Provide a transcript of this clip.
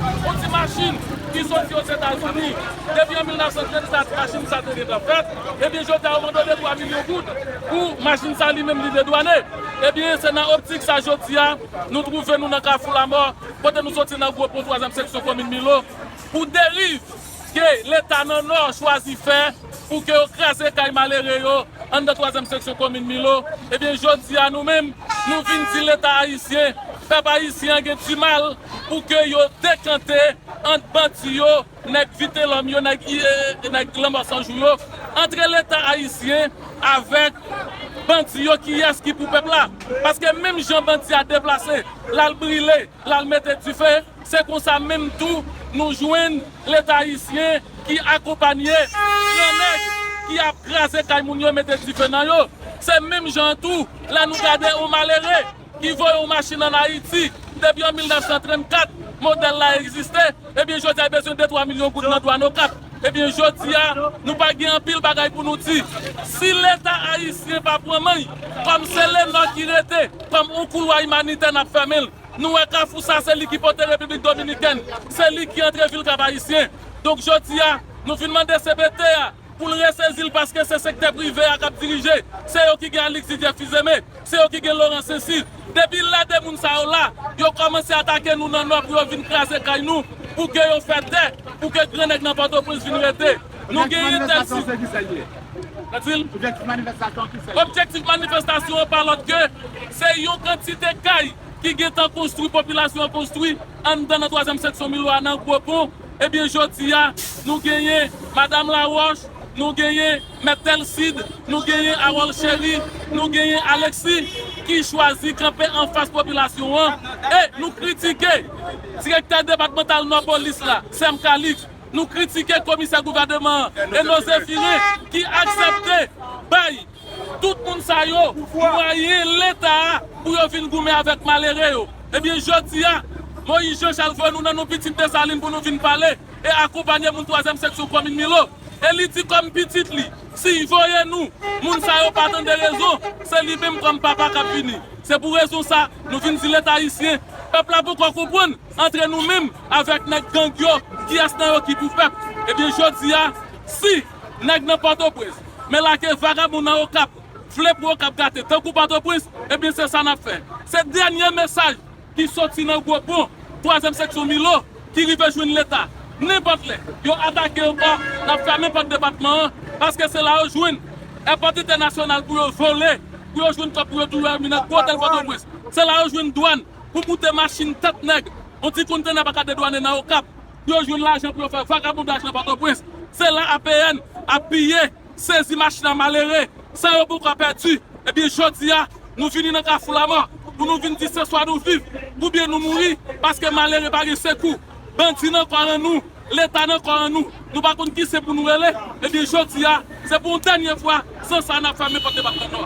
On ti machin ki soti Ozetazini. Depi an 1934 machin sa te gentan fèt. Ebyen jodi a yo mandone 3 milyon goud pou machin sa li menm li dedwane. Ebyen se nan optik sa jodi a nou twouve nou nan kafou lamò kote nou soti nan gwo pon twazyèm seksyon komin Milo pou deriv. Ke leta nan nò chwazi fè pou ke yo kraze kay malere yo anndan twazyèm seksyon komin Milo, ebyen jodi a nou menm nou vin di leta ayisyen, pèp ayisyen an gen dimal pou ke yo dekante ant bandi yo, nèg vitelòm yo, nèg nèg lanmò san jou yo, antre leta ayisyen avèk bandi yo kiyès ki pou pèp la? Paske menm jan bandi a deplase lal brile, lal mete dife. Se konsa menm tou nou jwenn leta ayisyen ki akonpanye gran nèg ki ap kraze kay moun yo mete dife nan yo. Se menm jan an tou lè nou gade yon malere ki voye yon machin an Ayiti depi an 1934 modèl la egziste ebyen jodi a li bezwen 2 3 milyon goud nan dwàn Okap ebyen jodi a nou pa gen anpil bagay pou nou di si leta ayisyen pa pran men kòm se Lenò ki rete kòm yon koulwa imanitè n ap fèmen l. Nou wè kafou sa se li ki pote repiblik dominikèn, se li ki antre vil kap ayisyen. Donk jodi a nou vin mande cpt a pou l resezi l paske se sektè prive a kap dirije, se yo ki gen Alix Didier Fils-Aimé, se yo ki gen Laurent Saincy. Depi lè 2 moun sa yo la, yo kòmanse atake nou nan nò pou yo vin kraze kay nou, pou ke yo fè tè, pou ke gran nèg nan pòtoprens vin rete. Nou gen entèdiksyon. Objektif manifestasyon an pa lòt ke se yon kantite kay ki gen tan konstwi popilasyon an konstwi anndan nan twazyèm seksyon Milo a nan Gwo Pon ebyen jodi a nou genyen Madam Laroche nou genyen Mèt Telcide nou genyen Harold Chéry nou genyen Alexis ki chwazi kanpe anfas popilasyon an e nou kritike Direktè Depatmantal Nò Polis la Sem Calixte Nou kritike komisè gouvèneman an, Eno Zephirin, ki aksepte bay tout moun sa yo mwayen leta a pou yo vin goumen avèk malere yo. Ebyen jodi a, Moïse Jean Charles voye nou nan nou pitit Desalin pou nou vin pale e akonpanye moun twazyèm seksyon komin Milo. E li di kòm pitit li, si y voye nou, moun sa yo pa tande rezon, se li menm kòm papa k ap vini. Se pou rezon sa, nou vin di leta ayisyen, pèp la poko konprann, antre nou menm, Avèk nèg gang yo kiyès nan yo ki pou pèp ebyen jodi a si nèg nan pòtoprens men lage vagabon nan okap vle pou okap gate tankou pòtoprens ebyen se sa nap fè se dènye mesaj ki soti nan gwo pon twazyèm seksyon milo ki rive jwenn leta nenpòt lè yo atake ankò nap fèmen pòt depatman an paske se la yo jwenn èpòt entènasyonal pou yo vole pou yo jwenn kòb pou yo tou reminant pou otèl pòtoprens se la yo jwenn dwàn pou moute machin tèt nèg, on ti kontenè pa ka dedwane nan Okap pou yo jwenn lajan pou yo fè vagabondaj nan Pòtoprens. Se la APN ap piye, sezi machin a malere, san yo poko pèdi. Ebyen jodi a, nou vini nan kafou lamò pou nou vin di se swa nou viv oubyen nou mouri paske malere pa gen sekou. Bandi nan kò an nou, Leta nan kò an nou, nou pa konn ki sen pou nou rele, ebyen jodi a, se pou yon dènye fwa, san sa a n ap fèmen pòt depatman Nò.